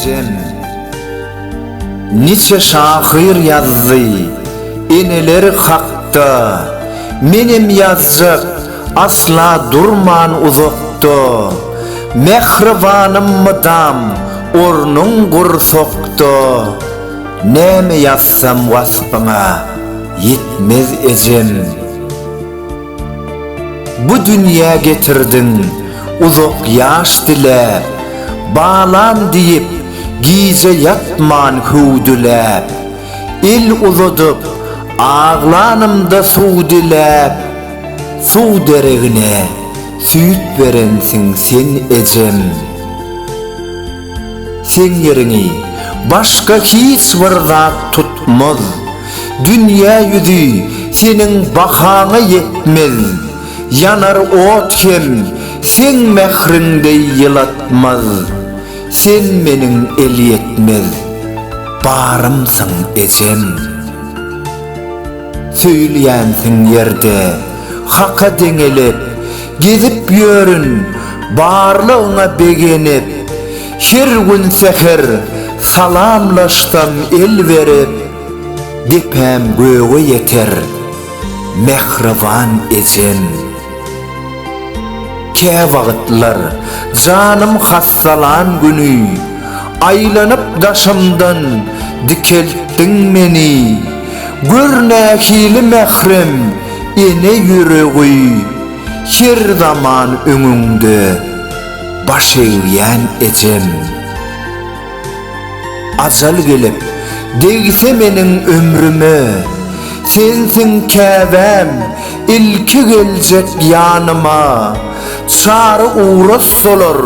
Ejem Niçe şahyr ýazdy Eneler hakda Menem ýazjak Asla durman uzakda Mähribanym mydam Ornuň gursakda Näme ýazsam waspyňa Ýetmez ejem. Bu dünýä getirdiň uzak ýaş diläp, Balam diýip, gije ýatman hüwdüläp, El uzadyp, aglanymda suw diläp, Suw deregine süýt berensiň sen ejem. Seň ýeriňi başga hiç bir zat tutmaz, Dünýä ýüzi seniň bahaňa ýetmez, Ýanar ot hem seň mähriň deý ýylatmaz, Sen meniň elýetmez barymsyň ejem. Söýülýänsiň ýerde Haka deňelip, Gezip ýörün barlygyňa begenip. Her gün säher salamlaşsam el berip, Depäm göge ýeter, mähriban ejem. Kä wagtlar, janym hassalan güni, Aýlanyp daşymdan dikeltdiň meni. Gör nähili mährem ene ýüregi, Her zaman öňüňde baş egýän ejem. Ajal gelip, degse meniň ömrüme, Sensiň käbäm, ilki geljek ýanyma, Çary uras solar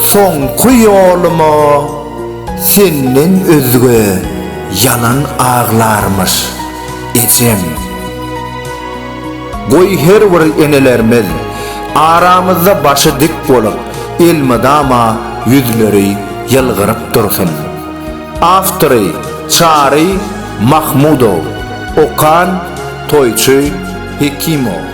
soňky ýoluma, Senden özge ýalan aglarmyş ejem. Goý her bir enelerimiz aramyzda başy dik bolup, elmydama ýüzleri ýylgyryp dursun. Awtory, Çary Mahmudow. Okan, Toýçy Hekimow.